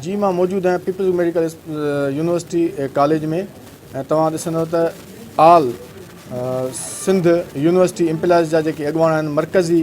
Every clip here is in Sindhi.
جي مان موجود آهيان پيپلز ميڊيڪل يونيورسٽي ڪاليج ۾ ۽ توهان ڏسندو ته آل سنڌ يونيورسٽي امپلائيز جا جيڪي اڳواڻ آهن مرڪزي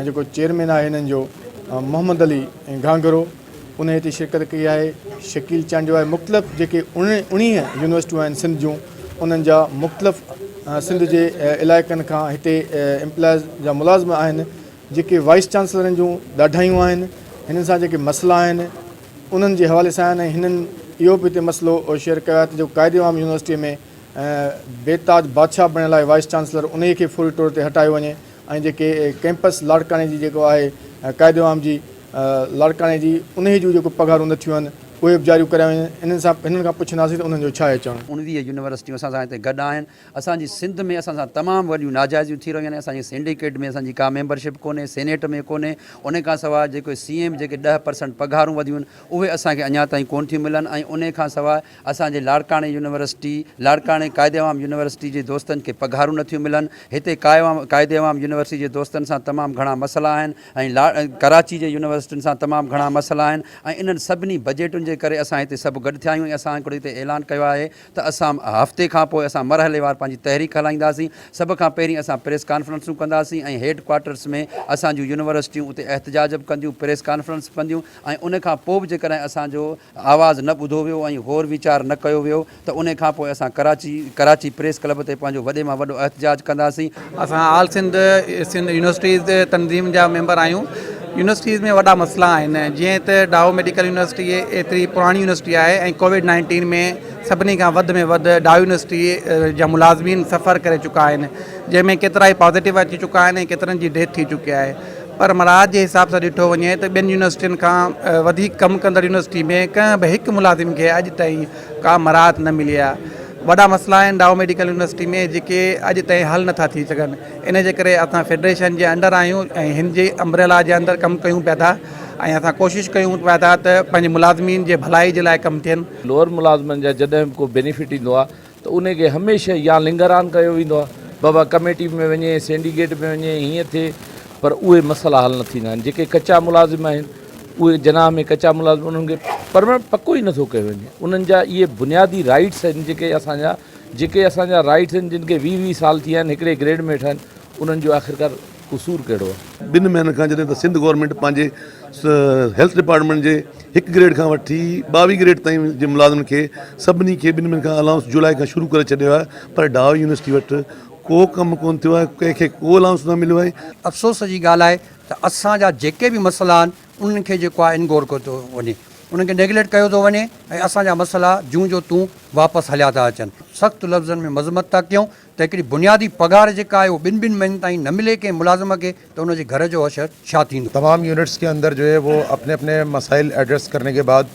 ۽ جيڪو چيئرمين آهي هنن جو محمد علي گهانگهرو ان هتي شرڪت ڪئي آهي شڪيل چانڊيو آهي مختلف جيڪي اڻيهه يونيورسٽيون آهن سنڌ جون انهن جا مختلف سنڌ جي علائقن کان هتي امپلائيز جا ملازم آهن جيڪي وائيس چانسلرن جون ڏاڍايون آهن، هنن سان جيڪي مسئلا آهن، انهن جي حوالي سان آهن ۽ هنن اهو به هتي مسئلو شيئر ڪيو آهي ته جيڪو قائد عام يونيورسٽيء ۾ بي تاج بادشاهه بڻيل آهي وائيس چانسلر، انهيء کي فوري طور تي هٽايو وڃي ۽ جيڪي ڪئمپس لاڙڪاڻي جي جيڪو آهي قائد عام جي لاڙڪاڻي جي، انهيء جون جيڪو پگهارون نه ٿيون آهن، اهي به جاريون ڪرايون وڃن، هنن سان هنن کان پڇنداسين ته انهن جو ڇا اچڻ؟ انهيء يونيورسٽيون اسان سان هتي گڏ آهن، اسان جي سنڌ ۾ اسان سان تمام وڏيون ناجائزيون ٿي رهيون آهن اسان جي سينڊيڪيٽ ۾ اسان جي ڪا ميمبرشپ ڪونهي سينيٽ ۾ ڪونهي ان کان سواء جيڪي سي ايم جيڪي ڏهه پرسنٽ پگهارون وڌيون آهن اهي اسان کي اڃا تائين ڪون ٿيون ملن ۽ ان کان سواء اسان جي لاڙڪاڻي يونيورسٽي لاڙڪاڻي قائد عوام يونيورسٽي جي دوستن کي پگهارون نٿيون ملن هتي قائد عوام يونيورسٽي جي دوستن سان تمام گهڻا مسئلا آهن ۽ ڪراچي جي يونيورسٽين سان تمام گهڻا مسئلا آهن ۽ انهن سڀني بجيٽن جي ڪري اسان هتي سڀ گڏ ٿيا آهيون ۽ اسان هڪڙو هتي اعلان ڪيو آهي ته اسان هفتي کان پوء اسان مرحليوار پنهنجي تحريڪ هلائينداسين، سڀ کان پهرين اسان پريس ڪانفرنسون ڪنداسين ۽ هيڊ ڪوارٽرس ۾ اسان جون يونيورسٽيون اتي احتجاج به ڪنديون، پريس ڪانفرنس به ڪنديون ۽ ان کان پوء به جيڪڏهن اسان جو آواز نه ٻڌو ويو ۽ غور ويچار نه ڪيو ويو ته ان کان پوء اسان ڪراچي ڪراچي پريس ڪلب تي پنهنجو وڏي مان وڏو احتجاج ڪنداسين. اسان آل سنڌ سنڌ يونيورسٽيز تنظيم جا ميمبر آهيون يونيورسٽيز ۾ وڏا مسئلا آهن جيئن ته ڊائو ميڊيڪل يونيورسٽي ايتري پراڻي يونيورسٽي آهي ۽ ڪوويڊ نائنٽين ۾ سڀني کان وڌ ۾ وڌ ڊائو يونيورسٽي جا ملازمين سفر ڪري چڪا آهن جنهن ۾ ڪيترا ئي پازيٽو اچي چڪا آهن ۽ ڪيترن جي ڊيٿ ٿي چڪي آهي پر مراعات جي حساب سان ڏٺو وڃي ته ٻين يونيورسٽين کان وڌيڪ ڪم ڪندڙ يونيورسٽي ۾ ڪنهن به هڪ ملازم کي اڄ تائين ڪا مراعت نه ملي آهي، وڏا مسئلا آهن ڊائو ميڊيڪل يونيورسٽي ۾ جيڪي اڄ تائين حل نٿا ٿي سگهن، ان جي ڪري اسان فيڊريشن جي انڊر آهيون ۽ هن جي امبريلا جي اندر ڪم ڪيون پيا ٿا ۽ اسان ڪوشش ڪيون پيا ٿا ته پنهنجي ملازمين جي ڀلائي جي لاء ڪم ٿين. لوئر ملازمن جا جڏهن به ڪو بينيفٽ ايندو آهي ته ان کي هميشه يا لنگران ڪيو ويندو آهي بابا ڪميٽي ۾ وڃي سينڊيڪيٽ ۾ وڃي هيئن ٿئي پر اهي مسئلا حل نه ٿيندا آهن جيڪي ڪچا ملازم آهن اهي جناح ۾ ڪچا ملازم انهن کي پرمننٽ پڪو ئي نٿو ڪيو وڃي انهن جا اهي بنيادي رائيٽس آهن جيڪي اسان جا جيڪي اسان جا رائيٽس آهن جن کي ويهه ويهه سال ٿي ويا آهن هڪڙي گريڊ ۾ ويٺا آهن انهن جو آخرڪار قصور ڪهڙو آهي. ٻن مهينن کان جڏهن ته سنڌ گورنمينٽ پنهنجي هيلٿ ڊپارٽمينٽ جي هڪ گريڊ کان وٺي ٻاويهه گريڊ تائين جي ملازمن کي سڀني کي ٻن مهينن کان الائونس جولاء کان شروع ڪري ڇڏيو آهي پر ڊاء يونيورسٽي وٽ ڪو ڪم ڪونه ٿيو آهي ڪنهن کي ڪو الائونس نه مليو آهي. افسوس جي ڳالهه آهي ته اسان جا جيڪي به مسئلا آهن انهن کي جيڪو آهي انگور ڪيو ٿو وڃي انهن کي نيگليٽ ڪيو ٿو وڃي ۽ اسان جا مسئلا جون جو تون واپس هليا ٿا اچن سخت لفظن ۾ مذمت ٿا ڪيون ته هڪڙي بنيادي پگهار جيڪا آهي اهو ٻن ٻن مهينن تائين نه ملي ڪنهن ملازم کي ته ان جي گهر جو حشر ڇا ٿيندو. تمام يونٽس ڪي اندر جو هي وو اپني اپني مسائل ايڊريس ڪرني ڪي بعد